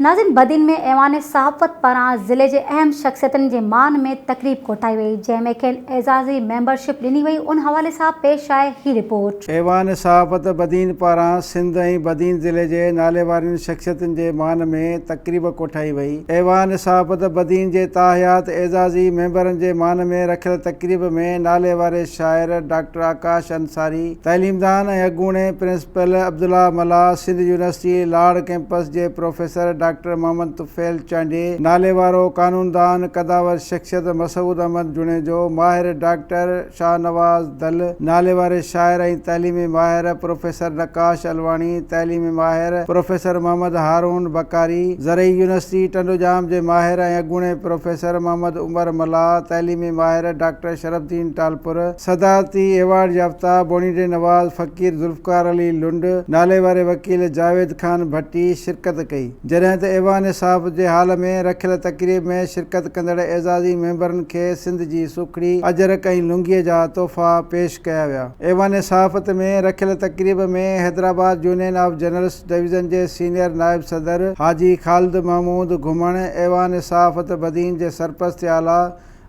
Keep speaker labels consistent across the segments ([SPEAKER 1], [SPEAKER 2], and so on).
[SPEAKER 1] ناظرين بدين ۾ ايوان صحافت پاران ضلعي جي اهم شخصيتن جي مان ۾ تقريب ڪوٺائي وئي جنهن ۾ کين اعزازي ميمبر شپ ڏني وئي ان حوالي سان پيش آهي هي رپورٽ. ايوان صحافت
[SPEAKER 2] بدين پاران سنڌ ۽ بدين ضلعي جي ناليوارين شخصيتن جي مان ۾ تقريب ڪوٺائي وئي ايوان صحافت بدين جي تاحيات اعزازي ميمبرن جي مان ۾ رکيل تقريب ۾ ناليواري شاعر ڊاڪٽر آڪاش انصاري تعليمدان ۽ اڳوڻي پرنسپل پل عبدالله ملاح سنڌ يونيورسٽي لاڙ ڪئمپس جي پروفيسر ڊاڪٽر محمد طفيل چانڊيي، ناليوارو قانوندان، قدآور شخصيت مسعود احمد جوڻيجو، ماهر ڊاڪٽر شاهنواز دل، ناليواري شاعر ۽ تعليمي ماهر پروفيسر نقاش علواڻي، تعليمي ماهر پروفيسر محمد هارون بکاري، زرعي يونيورسٽي ٽنڊوڄام جي ماهر ۽ اڳوڻي پروفيسر محمد عمر ملاح، تعليمي ماهر ڊاڪٽر شرف الدين ٽالپر، صدارتي ايوارڊ يافته بونيڊي نواز، فقير ذوالفقار علي لنڊ، ناليواري وڪيل جاويد خان ڀٽي شرڪت ڪئي، جڏهن ته ايوان صاحب جي هال ۾ رکيل تقريب ۾ شرڪت ڪندڙ اعزازي ميمبرن کي سنڌ جي سوکڙي، اجرڪ ۽ لونگيء جا تحفا پيش ڪيا ويا. ايوان صحافت ۾ رکيل تقريب ۾ Hyderabad union of journalist division جي سينيئر نائب صدر حاجي خالد محمود گهمڻ، ايوان صحافت بدين جي سرپرست اعليٰ،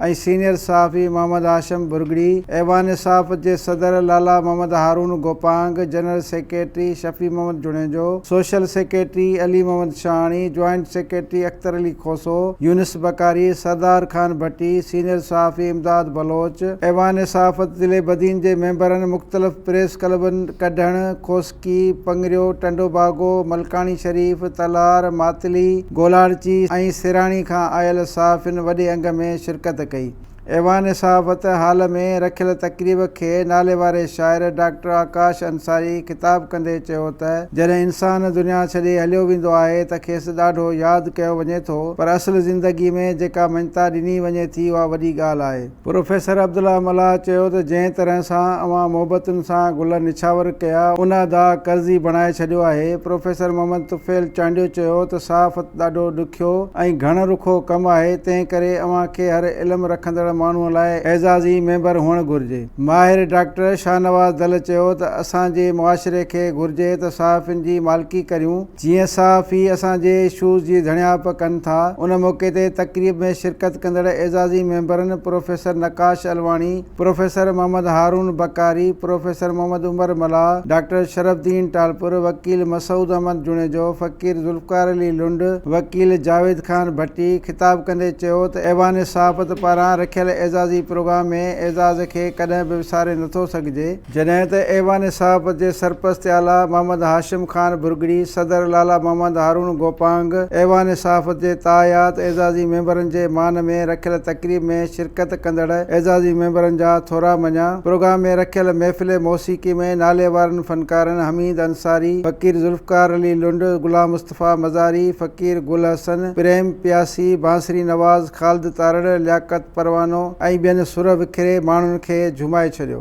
[SPEAKER 2] ۽ سينيئر صحافي محمد هاشم ڀرڳڙي، ايوان صحافت جي صدر Lala Muhammad Haroon Gopang, general secretary Shafi Muhammad Junejo, social secretary Ali Muhammad Shahani, joint secretary Akhtar Ali Khoso, Younis Bukhari, Sardar Khan Bhatti, senior صحافي امداد بلوچ، ايوان صحافت ضلعي بدين جي ميمبرن، مختلف پريس ڪلبن، ڪڍڻ، کوسڪي، ڪي، پڱريو، ٽنڊو باگو، ملڪاڻي شريف، تلار، ماتلي، گولاڙچي ۽ سيراڻي کان آيل صحافين وڏي انگ ۾ شرڪت ڪئي. ايوان صحافت هال ۾ رکيل تقريب کي ناليواري شاعر ڊاڪٽر آڪاش انصاري خطاب ڪندي چيو ته جڏهن انسان دنيا ڇڏي هليو ويندو آهي ته کيس ڏاڍو ياد ڪيو وڃي ٿو پر اصل زندگي ۾ جيڪا مڃتا ڏني وڃي ٿي اها وڏي ڳالهه آهي. پروفيسر عبدالله ملاح چيو ته جنهن طرح سان اوهان محبتن سان گل نڇاور ڪيا ان ادا قرضي بڻائي ڇڏيو آهي. پروفيسر محمد طفيل چانڊيو چيو ته صحافت ڏاڍو ڏکيو ۽ گهڻ رخو ڪم آهي تنهن ڪري اوهان کي هر علم رکندڙ ماڻهو لاء اعزازي ميمبر هئڻ گهرجي. ماهر ڊاڪٽر شاهنواز دل چيو ته اسان جي معاشري کي گهرجي ته صحافين جي مالڪي ڪريون، جيئن صحافي اسان جي ايشوز جي ڌڻيائپ ڪن ٿا. ان موقعي تي تقريب ۾ شرڪت ڪندڙ اعزازي ميمبرن professor Naqash Alwani, professor Muhammad Haroon Bukhari, professor Muhammad Umar Mallah, doctor Sharaf Uddin Talpur, وڪيل مسعود احمد جوڻيجو، فقير ذوالفقار علي لنڊ، وڪيل جاويد خان ڀٽي خطاب ڪندي چيو ته ايوان صحافت پاران رکيل اعزازي پروگرام ۾ اعزاز کي ڪڏهن به وساري نٿو سگهجي. جڏهن ته ايوان صحافت جي سرپرست اعليٰ محمد هاشم خان ڀرڳڙي، صدر لالا محمد هارون گوپانگ، ايوان صحافت جي تاحيات اعزازي ميمبرن جي مان ۾ رکيل تقريب ۾ شرڪت ڪندڙ اعزازي ميمبرن جا ٿورا مڃيا. پروگرام ۾ رکيل محفل موسيقي ۾ ناليوارن فنڪارن حميد انصاري، فقير ذوالفقار علي لنڊ، غلام مصطفيٰ، مصطفيٰ مزاري، فقير گل حسن، پريم پياسي، بانسري نواز، خالد تارڙ، لياقت پروانو ۽ ٻين سر وکري ماڻهن کي جهومائي ڇڏيو.